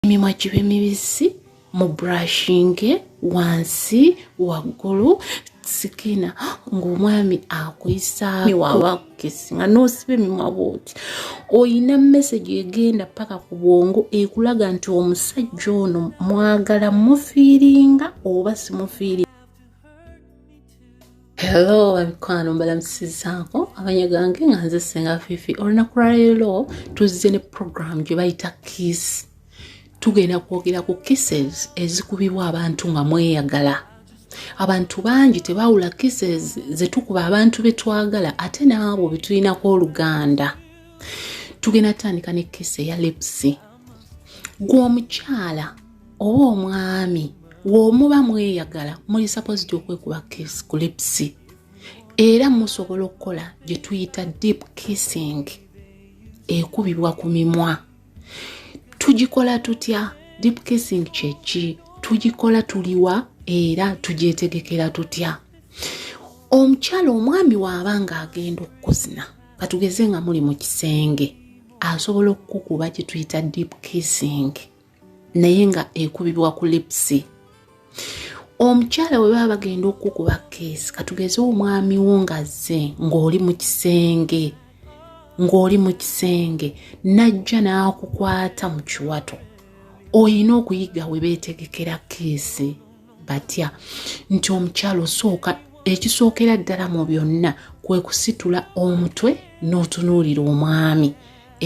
emimwa gibe mibisi mu brushinge wansi waggulu sikina ng'omwami akuyisawabakukisi nga n'osiba emimwa bwoti olina mesegi egenda paka ku bwongo ekulaga nti omusajja ono mwagala mufiiringa oba simufiiringa hello abikwano mbalamusizaako amanya gange nga nze senga fifi olunaku lwaleero tuzze ne program gye bayita kiss tugenda kwogera ku kisses ezikubibwa abantu nga mweyagala abantu bangi tebawula kisses zetukuba abantu betwagala ate naabo betulinako oluganda tugenda tutandika ne kisi eya lipsi gwe omukyala oba omwami womuba mweyagala muli supposed okwekuba kiss ku lips era musobola okukola gye tuyita deep kissing ekubibwa ku mimwa tugikola tutya deep kissing kyeki tugikola tuliwa era tugyetegekera tutya omukyala omwami waaba nga agenda okukuzina katugeze nga muli mu kisenge asobola okukukuba kyetuyita deep kissing naye nga ekubibwa ku lipsi omukyala we baba bagenda okukuba keesi katugeze omwami wo ngazze ng'oli mu kisenge ng'oli mu kisenge n'ajja n'akukwata mu kiwato olina okuyiga we beetegekera keesi batya nti omukyalo osooka ekisookera ddala mu byonna kwe kusitula omutwe n'otunuulira omwami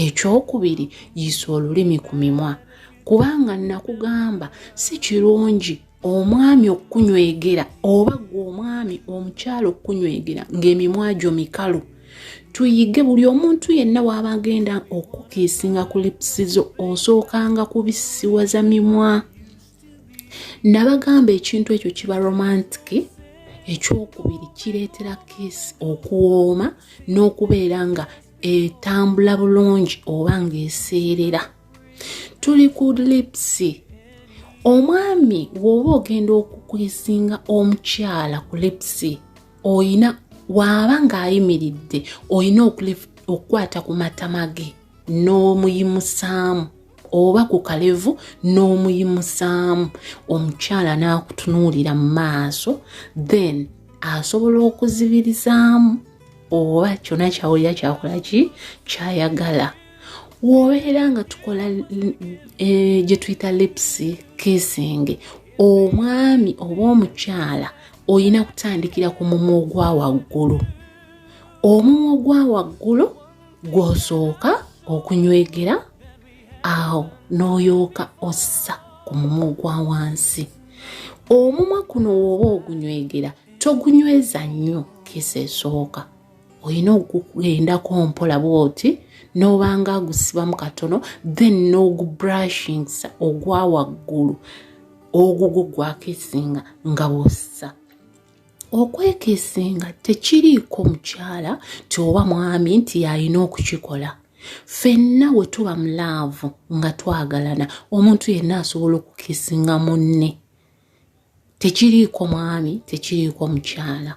ekyokubiri yiisa olulimi ku mimwa kubanga nakugamba si kirungi omwami okukunywegera oba gwe omwami omukyalo okukunywegera ng'emimwa gyo mikalu tuyige buli omuntu yenna waaba agenda okukiisinga ku lipsizo osookanga kubisiwaza mimwa nabagamba ekintu ekyo kiba romantiki ekyokubiri kireetera kiisi okuwooma n'okubeera nga etambula bulungi oba ng'eseerera tuli ku lipsi omwami wooba ogenda okukuisinga omukyala ku lipsi oyina waaba ng'ayimiridde olina okukwata ku matama ge n'omuyimusaamu oba ku kalevu n'omuyimusaamu omukyala n'akutunuulira mu maaso then asobola okuzibirizaamu oba kyona kyawulira kyakola ki kyayagala wobeera nga tukola eh, gye tuyita lipsi kissing omwami oba omukyala olina kutandikira ku mumwa ogwa waggulu omumwa ogwa waggulu gw'osooka okunywegera awo n'oyooka ossa ku mumwa ogwa wansi omumwa kuno wooba ogunywegera togunyweza nnyo kisa esooka olina okugendako mpola bwoti n'obanga agusibamu katono then n'ogubrashingsa ogwa waggulu ogugugwako esinga nga bwossa okwekesinga tekiriiko mukyala ti oba mwami nti yalina okukikola fenna we tuba mu laavu nga twagalana omuntu yenna asobola okukisinga munne tekiriiko mwami tekiriiko mukyala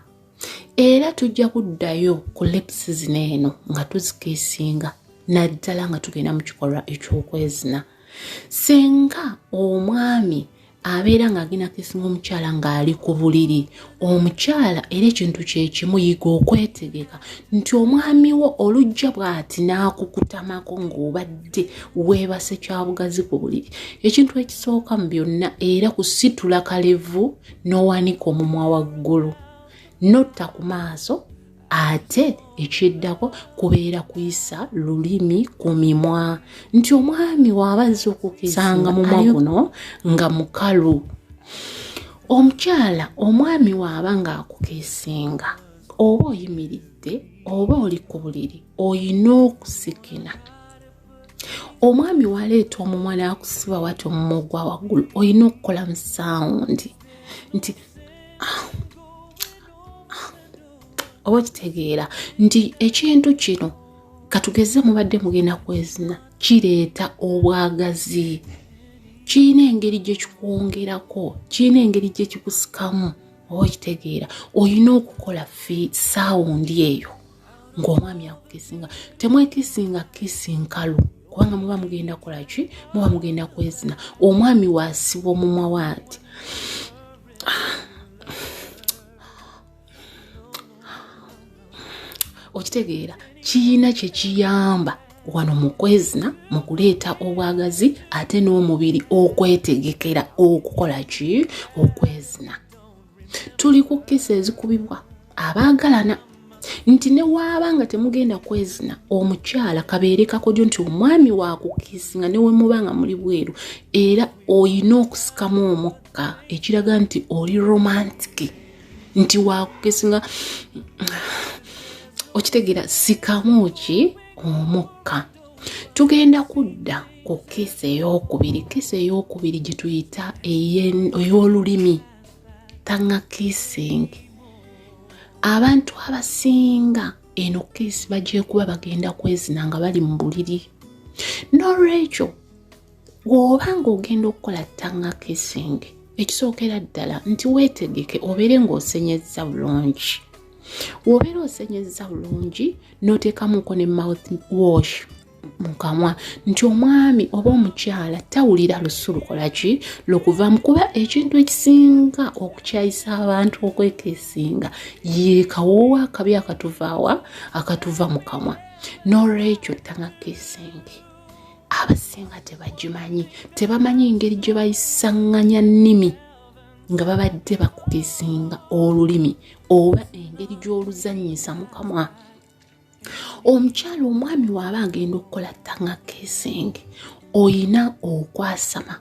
era tujja kuddayo ku lepsi zino eno nga tuzikisinga naddala nga tugenda mu kikolwa eky'okwezina senga omwami abeera ng'agenda kisinga omukyala ng'ali ku buliri omukyala era ekintu kyekimu yiga okwetegeka nti omwami wo olujja bw'ati n'akukutamako ng'obadde weebase kyabugazi ku buliri ekintu ekisooka mu byonna era kusitula kalevu n'owanika omumwa waggulu notta ku maaso ate ekyeddako kubeera kuyisa lulimi ku mimwa nti omwami waaba azze okukisanga mumwa guno nga mukalu omukyala omwami waaba ng'akukesinga oba oyimiridde oba oli ku buliri olina okusikina omwami waleeta omumwa n'akusiba wati omumwa ogwa waggulu olina okukola mu sawundi nti ah, oba kitegeera nti ekintu kino katugeze mubadde mugenda kwezina kireeta obwagazi kirina engeri gye kikwongerako kirina engeri gye kikusikamu oba okitegeera olina okukola fi saawundi eyo ng'omwami akukisinga temwekisinga kisi nkalu kubanga muba mugenda kola ki muba mugenda kwezina omwami waasibwa omumwa waati okitegeera kiyina kyekiyamba wano mukwezina mukuleeta obwagazi ate n'omubiri okwetegekera okukola ki okwezina tuli ku kisa ezikubibwa abaagalana nti newaaba nga temugenda kwezina omukyala kabeere kakodyo nti omwami wakukisi nga newemuba nga muli bweru era olina okusikamu omukka ekiraga nti oli romantiki nti wakukesinga okitegeera sikamu ki omukka tugenda kudda ku kesi eyokubiri kesi eyokubiri gyetuyita ey'olulimi tanga kissing abantu abasinga eno kesi bagyekuba bagenda kwezina nga bali mu buliri n'olwekyo bw'oba ng'ogenda okukola ttanga kissing ekisookera ddala nti weetegeke obeere ng'osenyezza bulungi wobeera osenyezza bulungi n'oteekamuko ne mouth wash mu kamwa nti omwami oba omukyala tawulira lusu lukola ki lukuvamu kuba ekintu ekisinga okukyayisa abantu okwekesinga yekawoowa akabi akatuvaawa akatuva mu kamwa n'olwekyo tanga kesingi abasinga tebagimanyi tebamanyi engeri gye bayisanganya nnimi nga babadde bakugezinga olulimi oba engeri gy'oluzanyisa mukamwa omukyalo omwami waaba agenda okukola tanga kesenge oyina okwasama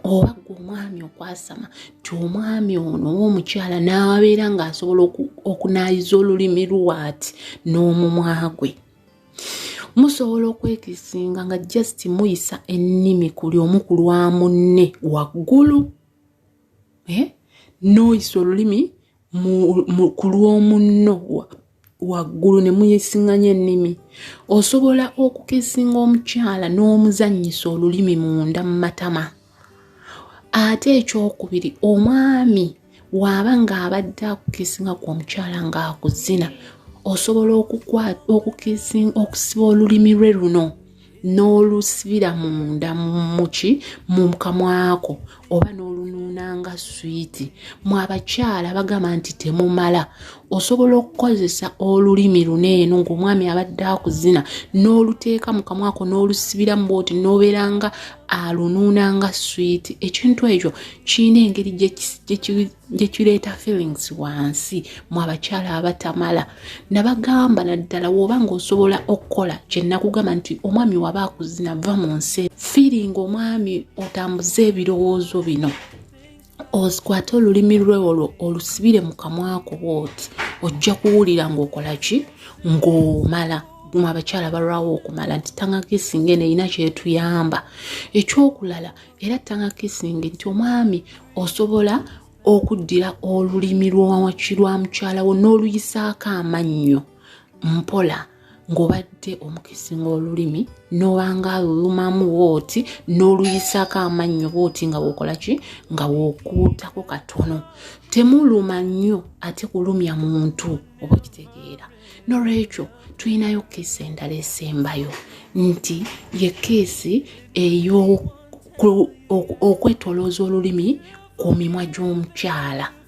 oba gwe omwami okwasama ti omwami ono owomukyala n'abeera ng'asobola okunaayiza olulimi lwati n'omumwa gwe musobola okwetisinga nga just muyisa ennimi kuli omu ku lwa munne waggulu eh? noyisa olulimi ku lw'omunno waggulu ne muyesinganya ennimi osobola okukesinga omukyala n'omuzannyisa olulimi munda mu matama ate ekyokubiri omwami waaba ng'abadde akukisinga ku omukyala ng'akuzina osobola okusiba olulimi lwe luno n'olusibira munda muki mu kamwako oba n'olunuuna nga swiiti mu abakyala bagamba nti temumala osobola okukozesa olulimi luno eno ng'omwami abadde akuzina n'oluteeka mu kamwako n'olusibiramu bwoti n'obeera nga alunuuna nga swiiti ekintu ekyo kirina engeri gye kireeta feelings wansi mu abakyala abatamala nabagamba naddala woba nga osobola okukola kyenakugamba nti omwami waba akuzina va mu nsi fiiringa omwami otambuze ebirowoozo bino ozikwate olulimi lwe olwo olusibire mu kamwako bwoti ojja kuwulira ng'okola ki ng'omala mu abakyala balwawo okumala nti tanga kisinga eno erina kyetuyamba ekyokulala era tanga kisinga nti omwami osobola okuddira olulimi lwawaki lwa mukyala wo n'oluyisaako amannyo mpola ng'obadde omukisi ng'olulimi n'obanga alulumamu wooti n'oluyisaako amannyo booti nga wokola ki nga wokuutako katono temuluma nnyo ate kulumya muntu oba okitegeera nolwekyo tulinayo keesi endala esembayo nti ye keesi ey'okwetolooza olulimi ku mimwa gy'omukyala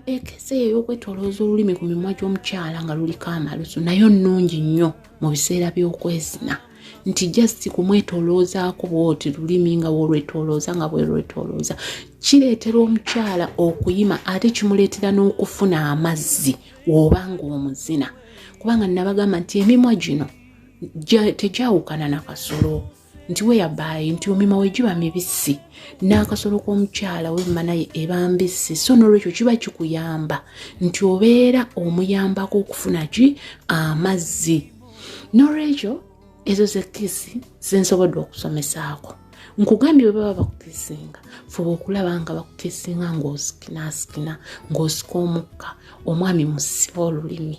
ekese eyo okwetolooza olulimi ku mimwa gy'omukyala nga luliko amalusu nayo nnungi nnyo mu biseera by'okwezina nti just kumwetoloozaako bwoti lulimi nga wolwetolooza nga bwerwetolooza kireetera omukyala okuyima ate kimuleetera n'okufuna amazzi woba ng'omuzina kubanga nabagamba nti emimwa gino tegyawukana na kasolo nti weyabaayi nti omima we giba mibisi n'akasolo k'omukyala wemma naye eba mbisi so n'olwekyo kiba kikuyamba nti obeera omuyambako okufuna ki amazzi n'olwekyo ezo zekisi zensobodde okusomesaako nkugambye bwe baba bakukisinga fuba okulaba nga bakukisinga ng'osikinasikina ng'osika omukka omwami musiba olulimi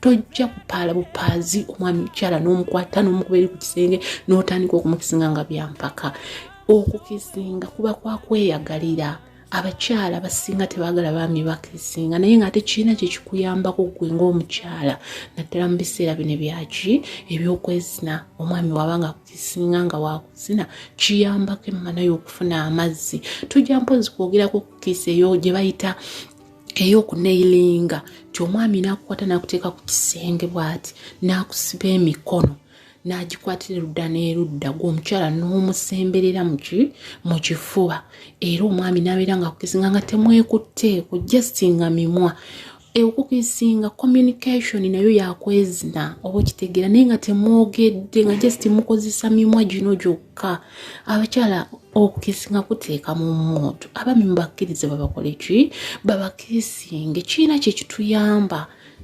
tojja kupaala bupaazi omwami mukyala n'omukwata n'omukubeeri ku kisenge n'otandika okumukisinga nga byampaka okukisinga kuba kwakweyagalira abakyala basinga tebagala baami bakisinga naye ngaate kirina kyekikuyambako gwe ngaomukyala naddala mu biseera bino byaki ebyokwezina omwami waba nga kukisinga nga wakuzina kiyambako emmana y'okufuna amazzi tujja mpozi kwogerako kukisa eyo gye bayita eyokuneilinga nti omwami nakukwata nakuteeka ku kisenge bwati nakusiba emikono nagikwatira erudda n'erudda gweomukyala n'omusemberera mu kifuba era omwami nabeera nga kukisinga nga temwekutteeko justinga mimwa okukisinga communication nayo yakwezina oba okitegeera naye nga temwogedde nga just mukozesa mimwa gino gyokka abakyala okukisi nga kuteeka mu muntu abami mubakkirize babakole ki babakisinge kirina kyekituyamba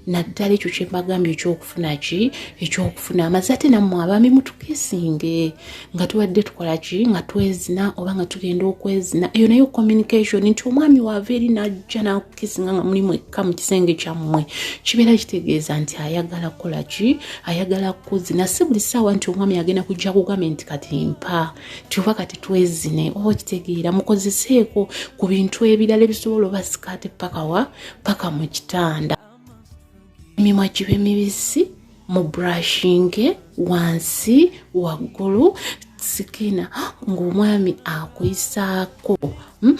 naddala ekyo kyembagambye ekyokufuna ki ekyokufuna amazi ate nammwe abami mutukisinge nga tubadde tukola ki nga twezina oba nga tugenda okwezina eyo nayo communication nti omwami waava eri najja nakukisinga nga mulimu ekka mu kisenge kyammwe kibeera kitegeeza nti ayagala kukola ki ayagala kuzina si buli saawa nti omwami agenda kujja kugambye nti kati mpa kyoba kati twezine oba oh, kitegeera mukozeseeko ku bintu ebirala ebisobola oba sikaati paka wa paka mu kitanda emimwa kibe mibisi mu brushinge wansi waggulu sikina ng'omwami akuyisaako hmm?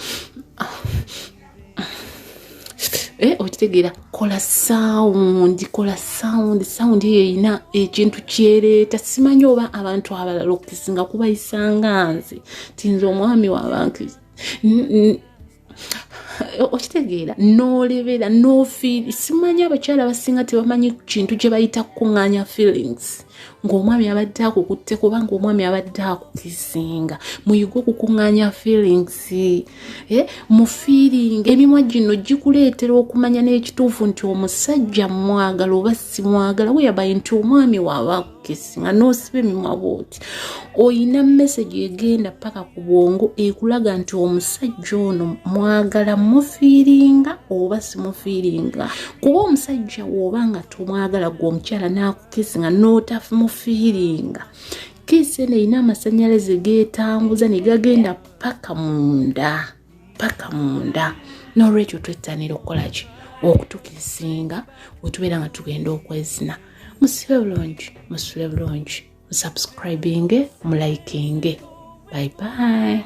Eh, okitegeera kola sawundi kola sawundi sawundi eyo erina ekintu kyereeta simanyi oba abantu abalala okukisinga kubayisanga nze tinza omwami wabantu okitegeera n'olebera n'ofiiri simanyi abakyala basinga tebamanyi kintu kye bayita kukuŋŋanya feelings ng'omwami abadde akukutte kubanga omwami abadde akukisinga muyige okukuŋŋanya feelings eh, mu feeling emimwa gino gikuleetera okumanya n'ekituufu nti omusajja mwagala oba simwagala weyabaye nti omwami waaba akukisinga n'osiba emimwa bwoti olina mesagi egenda paka ku bwongo ekulaga nti omusajja ono mwagala mufiiringa oba simufiiringa kuba omusajja wooba nga tomwagala gwe omukyala naaku kiisi nga n'otamufiiringa kiisi eno erina amasannyalaze geetanguza ne gagenda paka munda paka munda n'olwekyo twettanira okukola ki okutukisinga wetubeera nga tugenda okwezina musibe bulungi musule bulungi musubscribinge mulikinge bye bye